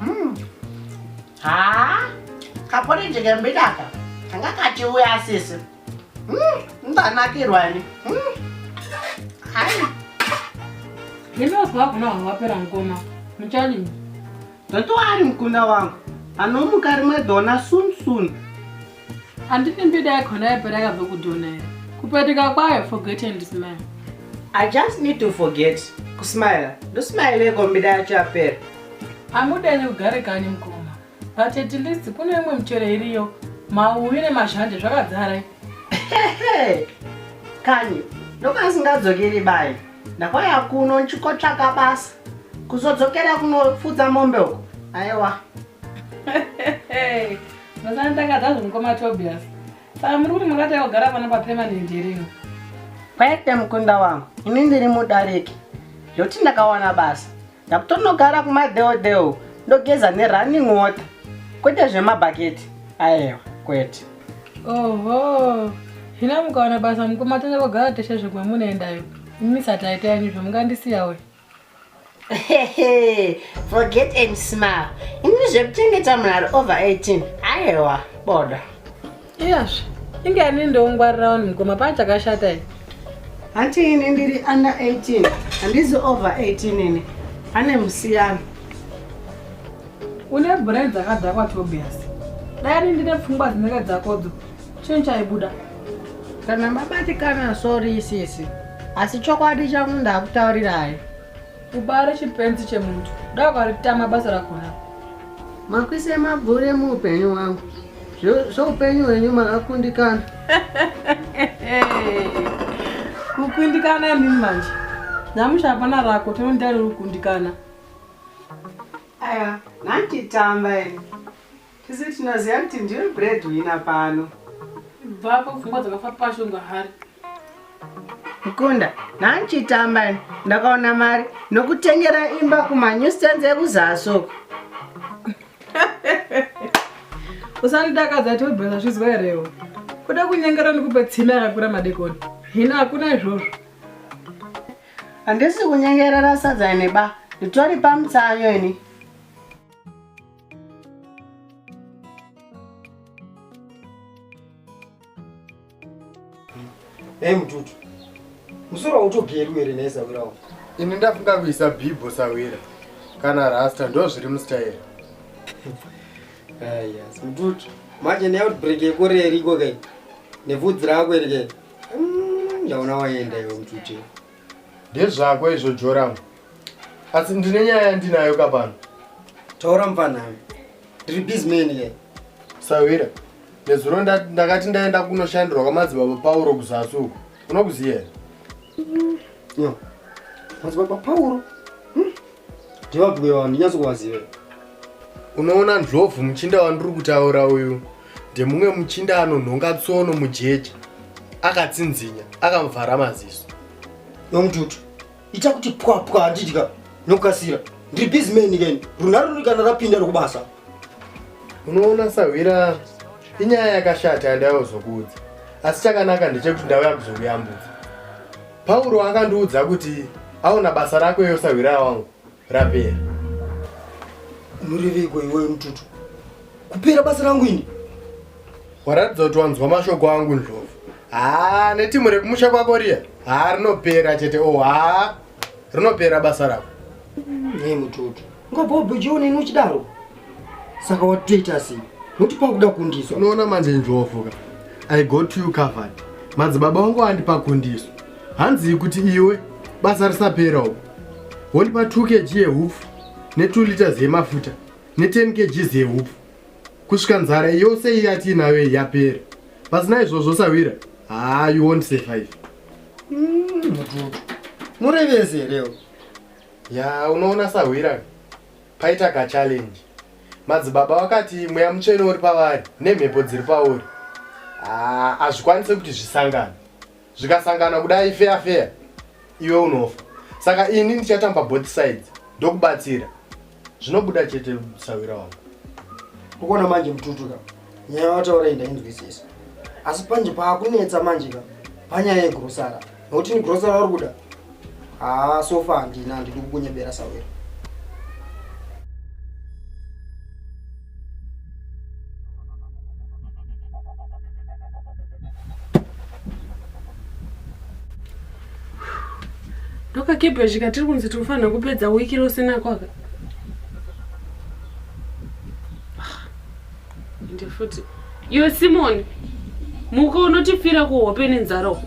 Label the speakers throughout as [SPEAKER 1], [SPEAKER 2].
[SPEAKER 1] Hmm. haa kapori ndikembidaka kanga kati uya asisi hmm, ndanakirwani hmm.
[SPEAKER 2] hai ndinoziva kuna vanhu vapera mukoma muchalini ndotoari
[SPEAKER 1] mukunda wangu anomuka rimwe dona soon soon
[SPEAKER 2] handiti mbida yakona yaipera yakabva kudhona here kupetuka kwayo forget and smile i just
[SPEAKER 1] need to forget kusmile ndosmileko mbida yacho yapera amuda
[SPEAKER 2] ine kugare kani mukoma but at least kune imwe michero iriyo mauwi nemazhanje zvakadzara
[SPEAKER 1] kani ndokaasingadzokeri bai ndakwaya kuno ndichikotsvaka basa kuzodzokera kunofudza mombe uko aiwa
[SPEAKER 2] Ndosanditangazva zvemukoma Tobias. Saka muri kuti makati yakugara pano papermanent here ino? Kwaite
[SPEAKER 1] mukunda wangu, ini ndiri mudariki. Zvekuti ndakawana basa. Ndakutonogara kumadheodheo ndogeza nerunning water. Kwete zvemabhaketi. Aewa, kwete. Oho.
[SPEAKER 2] Zvino mukawana basa mukoma tonyakogara teshe zvimwe munoendayo. Imi sati aita yenyu zvamungandisiya uyu.
[SPEAKER 1] forget and smile ini zvekuchengeta munhari over 18 aewa bodo iyazve
[SPEAKER 2] inge ani ndoungwarirawo ni mukoma paa chakashata i hanti ini
[SPEAKER 1] ndiri under 18 handizi over 18 ini pane musiyano
[SPEAKER 2] une brain dzakadhakwa tobias dai ani ndine pfungwa dzinenge dzakodzo Chii chaibuda? Kana
[SPEAKER 1] mabatikana sorry sisi. Asi chokwadi changu ndakutaurirai. Ubare
[SPEAKER 2] chipenzi chemuntu. Dai ukaritama basa rakona. Makwise
[SPEAKER 1] mabvure muupenyu wangu. Zveupenyu hwenyu makakundikana.
[SPEAKER 2] Kukundikana imi manje. Nyamusha hapana rako tinondari rikundikana. Aya,
[SPEAKER 1] nantitamba imi. Tese tinoziva kuti ndiwe bread wina pano. Bvapo
[SPEAKER 2] pfungwa dzakafa pasho inga hari.
[SPEAKER 1] Mkunda, nanchitamba ndakaona mari nokutengera imba kuma new stands ekuzasoko.
[SPEAKER 2] Usandidakadza tobhela zvizwa herewo. Kuda kunyengera nikupa tsime yakakura madekoni. Hina hakuna izvozvo.
[SPEAKER 1] Handisi kunyengerera sadza ine ba. Nditori pamutsayo ini.
[SPEAKER 3] Hey mututu. Musoro utogeri were nesa wirawo. Ini ndafunga
[SPEAKER 4] kuisa bibho sawira kana rasta ndo zviri mustyle. Ah
[SPEAKER 3] yes, mututu. Manje ne outbreak yekore iriko kai. Nevudzi rako iri kai. Mm, ndaona waenda iwe mututu. Ndezvako
[SPEAKER 4] izvo Joram. Asi ndine nyaya yandinayo ka pano. Taura
[SPEAKER 3] mfana. Ndiri busy man here? Sawira.
[SPEAKER 4] Nezuro ndakati ndaenda kunoshandirwa kwamadzibaba Pauro kuzasi uko. Unokuziya here?
[SPEAKER 3] Yo. Madzibaba Pauro? ndivabhuye vanhu ndinyatso kuvaziva
[SPEAKER 4] unoona ndlovu muchinda wandiri kutaura uyu ndemumwe muchinda anonhonga tsono mujeje akatsinzinya akamuvhara maziso yomututu
[SPEAKER 3] ita kuti pwapwa handidya nokukasira ndiri bizimeni ken runharo ruri kana rapinda rokubasa
[SPEAKER 4] unoona sahwira inyaya yakashata yandaiva kuzokuudza asi chakanaka ndechekuti ndauya kuzokuyambudza Pauro akandiudza kuti aona basa rako iwe sahwira wangu rapera.
[SPEAKER 3] Unoreveiko iwewe mututu? Kupera basa rangu ini?
[SPEAKER 4] Waratidza kuti wanzwa mashoko angu ndlovu. Haa netimu rekumusha kwako riya? Haa rinopera chete oh haa rinopera basa rako. Nei mututu?
[SPEAKER 3] Ngabhobho John ini uchidaro. Saka watoita sei? Nokuti pakuda kundiswa. Unoona manje njovoka.
[SPEAKER 4] I got you covered. Madzibaba wangu wandipa kundiso. Hanzi kuti iwe basa risapera uko. Wondipa 2 kg yehupfu ne2 liters yemafuta ne10 kg yehupfu. Kusvika nzara yose iyi yatiinayo yapera. Pasina izvozvo sawira. Ah, you won't survive.
[SPEAKER 3] Mm, mututu.
[SPEAKER 4] Murevese
[SPEAKER 3] here?
[SPEAKER 4] Yaa unoona
[SPEAKER 3] sahwira
[SPEAKER 4] paita kachallenge madzibaba vakati mweya mutsvene uri pavari nemhepo dziri pauri ah, hazvikwanise kuti zvisangana zvikasangana kudai feya feya iwe unofa saka ini ndichatamba both sides ndokubatsira zvinobuda chete sawira wangu ukuona
[SPEAKER 3] manje mututu ka nyaya wataura iyi ndainzwisisa asi panje paakunetsa manje ka panyaya yegrosara nokuti ni grosara uri kuda haa sofa handina handidi kukunyebera sawira
[SPEAKER 2] ndokakebhezhika tiri kunzi tiri kufanira kupedza wiki rose nakwaka ah, ende futi Iwe Simoni, muka unotifira kuhope nenzara uko.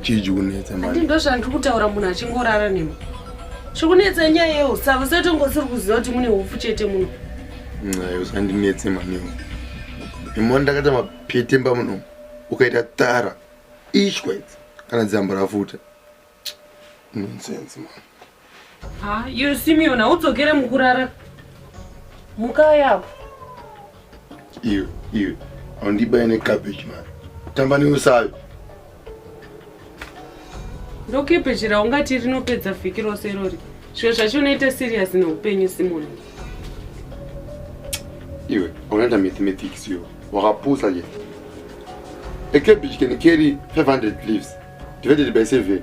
[SPEAKER 5] Chiji kunetsa manje. Ati ndozvandiri kutaura munhu
[SPEAKER 2] achingorara nemi. Chikunetsa nyaya yeusava setongosiri kuziva kuti mune hofu chete muno. Nayo
[SPEAKER 5] sandinetse manewo. Imoni ndakata mapetemba muno ukaita tara ishwa kana dzambo rafuta. Nonsense man. Ha, you Simeon,
[SPEAKER 2] haudzokere mukurara. Mukaya apo. Iwe,
[SPEAKER 5] iwe. Haundibaye ne cabbage man. Tamba neusavi.
[SPEAKER 2] Ndokepeji raungati rinopedza vhiki rose irori. Zviro zvacho unoita serious neupenyu Simon.
[SPEAKER 5] Iwe, unoita mathematics iwe. Wakapusa je. A cabbage can carry 500 leaves. divided by seven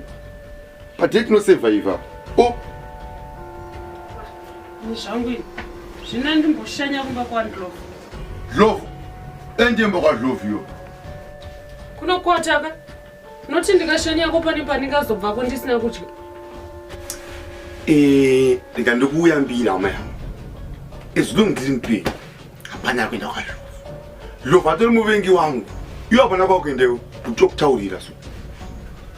[SPEAKER 5] but yet no survivor o oh.
[SPEAKER 2] zvangu ini zvina ndimboshanya kumba kwandlove
[SPEAKER 5] love endemba kwalove yo kunokwataka
[SPEAKER 2] noti ndikashanyako pane pandingazobvako ndisina kudya eh,
[SPEAKER 5] ndika ndikuuyambira hama yangu as long as ndiri mupeni hapana yakuenda kwazvo Lova atori muvengi wangu. Iwe hapana kwakuendewo kuti tokutaurira so.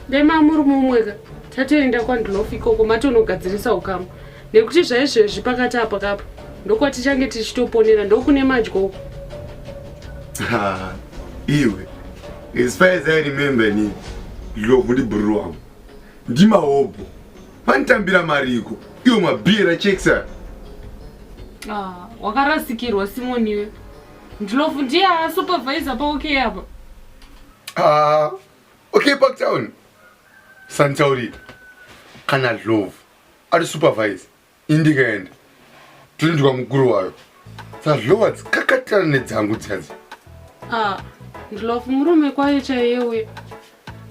[SPEAKER 5] Ndema
[SPEAKER 2] muri mumwe ka. Tatoenda kwaNdlof ikoko matonogadzirisa ukama. Nekuti zvaizvezvi pakati apa kapa ndokwatichange tichitoponera ndokune madyo uko.
[SPEAKER 5] Iwe. As far as I remember ni Lova ndi bro wangu. Ndimahobho. Vanitambira mariko. Iwo mabira checks aya. Ah,
[SPEAKER 2] wakarasikirwa Simon iwe. Ndlovu ndiye supervisor pa okay apa. Ah,
[SPEAKER 5] okay Park Town. Santaurita. Kana Ndlovu ari supervisor. Indikaenda. Tinzwa mukuru wayo. Sazlowa dzikakatirana nedzangu dzadzi. Ah,
[SPEAKER 2] ndlove murume kwaye chaiye uye.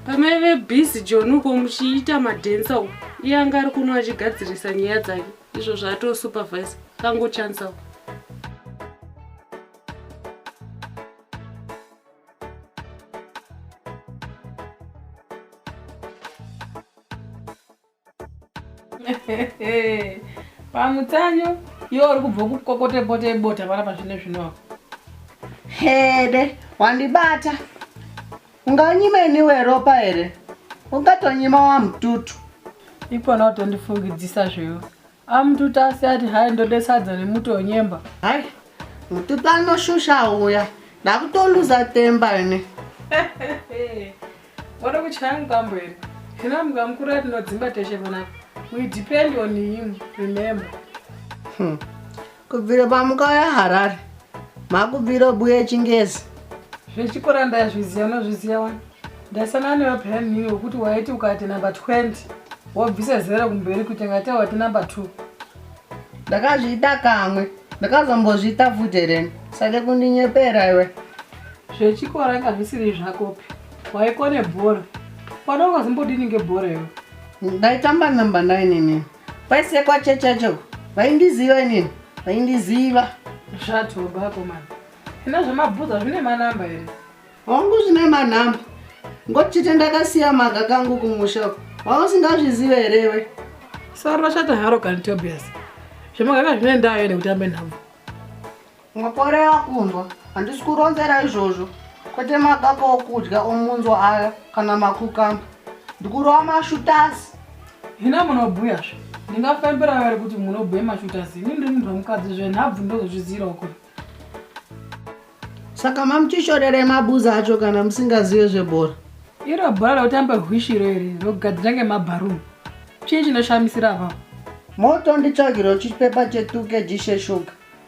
[SPEAKER 2] Pamaive busy John uko muchiita madensa uko. Iye anga ari kuno achigadzirisa nyaya dzake. Izvo zvato supervise. Kangu chance uko. pamutsanyo iwe uri kubva kukokotepota ibota vana pazvine zvino apo hede
[SPEAKER 1] wandibata unganyima iniwe ropa here ungatonyima wamututu ipona
[SPEAKER 2] utondifungidzisa zvewe Amututasi ati hai ndode sadza nemuto wenyemba. Hai,
[SPEAKER 1] mututu anoshusha uya. Ndakutoluza temba ine.
[SPEAKER 2] Wada kuchaya mukambo here? Hina muka mukuru atinodzimba teshe panapa. We depend on him, remember. Hmm.
[SPEAKER 1] kubvira pamukauya harare makubvira obuya echingezi zvechikora
[SPEAKER 2] ndazviziva unozviziva wani ndasangana newe peyani nini wekuti waiti ukati number 20 wobvisa zero kumberi kuti ngate wati number 2
[SPEAKER 1] ndakazviita kamwe ndakazombozviita futi hereni sade kundinyepera iwe zvechikora
[SPEAKER 2] inga zvisiri zvakopi waikone bhora pano ungazombodini ngebhora iwe ndaitamba
[SPEAKER 1] number 9 inini Paisekwa checha choko. Vaindiziva inini. Vaindiziva. Zvatoba
[SPEAKER 2] akomana. Ina zvemabhuza zvine manamba here? Hongu zvine
[SPEAKER 1] manamba. Ngoti chete ndakasiya maga kangu kumusha uko. Wausingazvizive here iwe? Sara rashata
[SPEAKER 2] haro kani Tobias. Zvemagaka zvine ndayo nekutambe nhambo.
[SPEAKER 1] Makorera kunzwa, handisi kuronzera izvozvo, kwete makaka okudya omunzwa aya kana makukamba, ndikurova mashutasi. Hina
[SPEAKER 2] munobhuya zve, ndingafembera vere kuti munobhuya mashutasi, ini ndiri munhu wemukadzi zve, nhabvu ndozozviziirawo kure.
[SPEAKER 1] Saka mamuchishorerei mabuza acho kana musingazive zvebhora? Iro bhora
[SPEAKER 2] rokutamba hwishiro iri rogadzira ngemabharuni, chii chinoshamisira apapo?
[SPEAKER 1] Moto nditsvagiro chipepa chetuke jishe shuga.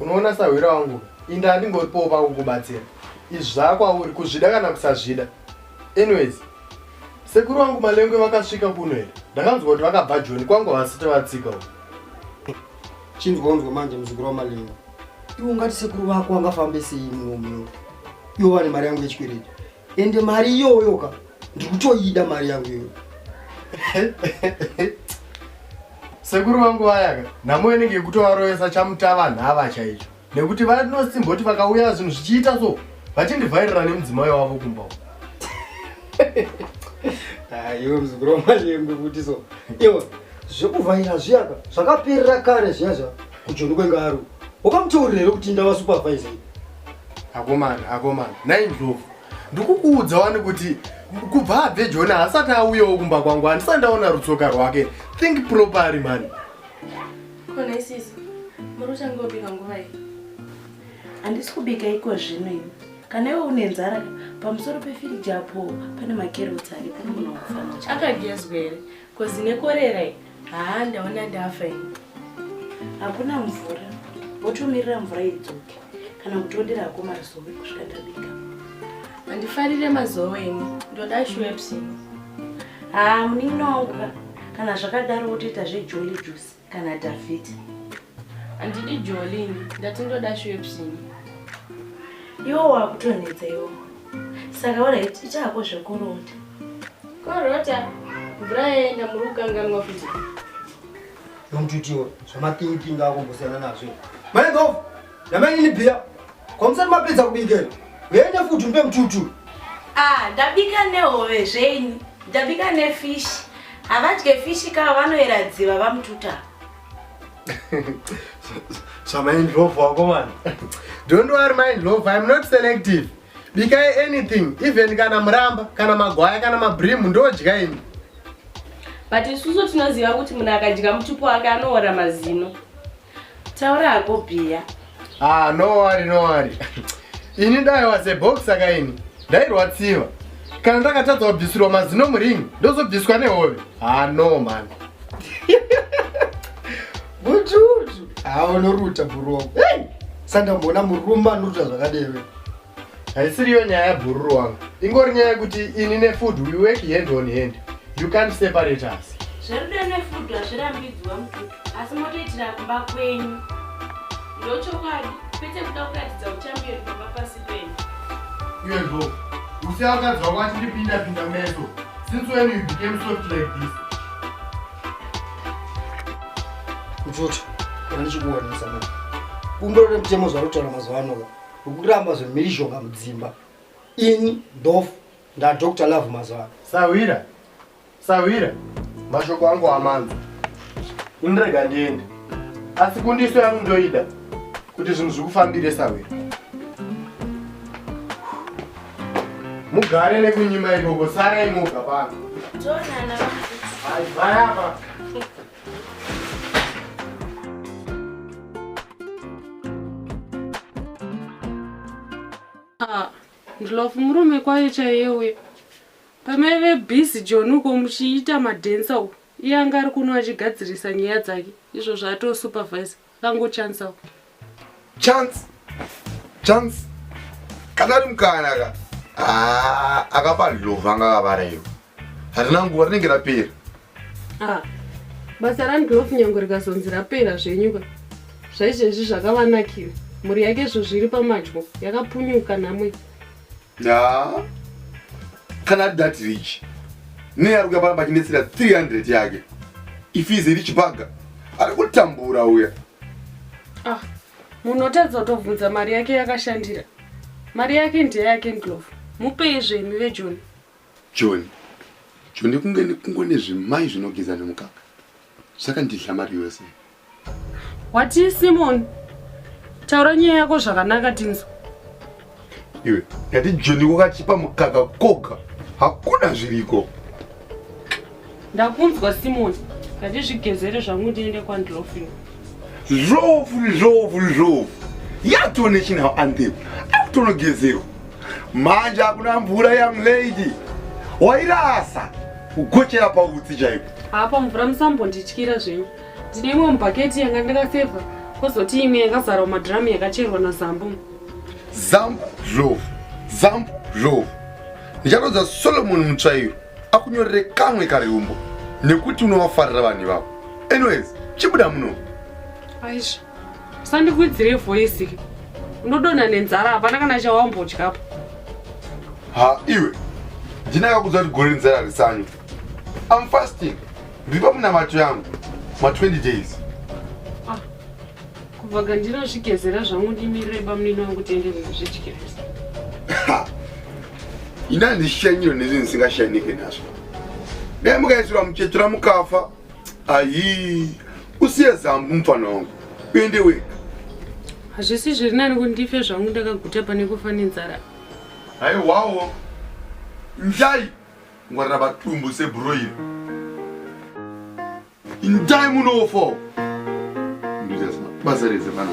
[SPEAKER 4] unoona sahwira wangu inda handingoripowo pakukubatsira izvi zvakwauri kuzvida kana kusazvida anyways sekuru wangu malengwe vakasvika kuno here ndakanzwa kuti vakabva joni kwangu havasite vatsika u
[SPEAKER 3] chinzwanzwa manje muzukuru wamalengwe iwo ngati sekuru vako wangafambe sei munomuno iwo vane mari yangu yechikwereti ende mari iyoyo ka ndikutoida mari yangu iyoyo
[SPEAKER 4] sekuru vangu vayaka nhamo inenge yekutovaroyesa chamutava nhava chaicho nekuti vanosimboti vakauya zvinhu zvichiita so vachindivhairira nemudzimai wavo kumba
[SPEAKER 3] aiwe ah, muzukuru wamanyengwe kuti so iwe zvekuvhaira zviyaka zvakaperera kare zviya zva kujoni kwengaru wakamutaurira here kuti ndava supervisor akomana
[SPEAKER 4] akomana nhai ndlovu ndikukuudza wani kuti kubva abve joni haasati auyawo kumba kwangu handisati ndaona rutsoka rwake think propery mani
[SPEAKER 6] kona isisi muri uchange wobika nguva iyi handisi kubika iko zvino ini kana iwe une nzara pamusoro pefiriji apo pane makerotsi ari pano munhu wakufanira akagezwa here Kozi nekorera iyi haa ndaona ndafa ini. Hakuna mvura, wotomirira mvura idzoke kana kutondera hako mazowe kusvika ndabika. Handifarire mazowe ini, ndoda shwepsi. Haa munin'ina wangu ka, kana zvakadaro wotoita zvejolly juice. kana dhavhidha handidi jolini ndati ndoda shwepsini iwo wakutonetsa iwo saka orit ichaako zvekurota korota mvura yaenda muri kukanganwa futi ndomuti
[SPEAKER 3] utiwo zvamapingi pingi akumbosiyana nazvo maendof Namainini bhiya. Kwa musati mapedza kubika. Yende futi mpe mtutu. Ah, ndabika
[SPEAKER 6] nehove zvenyu. Ndabika nefish. Havadye fish ka vanoera dziva vamtuta.
[SPEAKER 4] so my in love wako man. Don't worry my in love. I'm not selective. Bikai anything, even kana muramba, kana magwaya, kana mabrim ndodya ini.
[SPEAKER 6] But isusu tinoziva kuti munhu akadya mutupo wake anoora mazino. Taura hako bhiya. Ah, no
[SPEAKER 4] worry, no worry. Ini dai was a box saka ini ndairwadziwa. Kana ndakatadza kubvisirwa mazino muringi ndozobviswa nehove. Ah, no man.
[SPEAKER 3] Bututu. Ah, unoruta bhurogo. Hey! Sandamboona murume anoruta zvakadero. haisiriyo
[SPEAKER 4] nyaya yabhururu wangu ingori nyaya yekuti ini nefood we work hand on hand you can't separate us zverudo nefood
[SPEAKER 6] hazvirambidzwa mututu asi motoitira kumba
[SPEAKER 4] kwenyu ndochokwadi kwete kuda kuratidza uchamberi pamba pasi penyu uyezvo usi akadzwa kwati ndipinda pinda meso since when you became soft like this
[SPEAKER 3] kuchuta anichikuwanisa mani kumbiro remutemo zvarutaura mazuva anoa Ukuramba zvemhirizhonga mudzimba. Ini ndofu ndaDr Love mazuva. Sahwira. Sahwira.
[SPEAKER 4] Mashoko angu amanzi. Indirega ndiende. Asi kundiso yangu ndoida kuti zvinhu zvikufambire sahwira. Mugare nekunyima ikoko sarai moga pano. Jonana.
[SPEAKER 6] Hai, vaya apa.
[SPEAKER 2] Ah, ndlovu murume kwaye chaiye uye pamaive busy john uko muchiita madensa uko iye anga ari kuno achigadzirisa nyaya dzake izvozvo atoo supervisor Kango chance ako.
[SPEAKER 5] Chance. Chance. Kana ari mukana ka. Ah, akapa love anga akavara iyo. Harina nguva rinenge rapera. Ah.
[SPEAKER 2] Basa rani love nyango rikazonzi rapera zvenyuka. Zvaizvezvi zvakavanakira. Mhuri yake izvo zviri pamadyo yakapunyuka namwe. Nah.
[SPEAKER 5] Kana ari that rich. Nei ari kuya pano pachinetsera 300 yake. If he is a rich bugger. Ari kutambura uya. Ah.
[SPEAKER 2] Munhu otadza kutobvunza mari yake yakashandira. Mari yake ndeyake Ndlovu. Mupei zvemi vejoni.
[SPEAKER 5] Joni. Joni kunge
[SPEAKER 2] kungo
[SPEAKER 5] nezvimai zvinogeza nemukaka. Saka ndidla mari yose.
[SPEAKER 2] Wati Simon, taura nyaya yako zvakanaka tinzwa.
[SPEAKER 5] Iwe, ndati Joni wakachipa mukaka koga, hakuna zviriko. Ndakunzwa
[SPEAKER 2] Simon, ndati zvigezere zvangu ndiende kwandilofini. Zvovu, zvovu,
[SPEAKER 5] zvovu. Yatone chinawo andepo, akutonogezerwa. Manje hakuna mvura young lady. Wairasa, kugochera pautsi chaipo. Hapa mvura
[SPEAKER 2] musambondityira zvenyu. Ndine imwe mubhaketi yanga ndakafevha kozoti imwe yakazara madhiramu yakacherwa nazambu zambu zvovu
[SPEAKER 5] zambu zvovu ndichatoudza solomoni mutsvairo akunyorere kamwe kariumbo nekuti unovafarira vanhu ivavo anyways chibuda muno aisha
[SPEAKER 2] usandikwidzire voisi unodonha nenzara hapana kana chawambodyapo
[SPEAKER 5] ha iwe ndinakakuudza kuti gore renzara risanyu I'm fasting. Ripa munamato yangu ma 20 days. Ah.
[SPEAKER 2] Kubva gandira zvikezera zvangu ndimirire bamnini wangu tiende kuzvidyirisa.
[SPEAKER 5] Ina ndishanyiro nezvinhu ndisingashanike nazvo. Dai mukaisirwa muchetura mukafa. Ayi. Usiye zambu mfana wangu. Uende wega. Hazvisi
[SPEAKER 2] zviri nani kuti ndife zvangu ndakaguta pane kufa nenzara. Haiwawo.
[SPEAKER 5] Njai. ngwarira batumbu seburo iri indai munofa basa rese mwana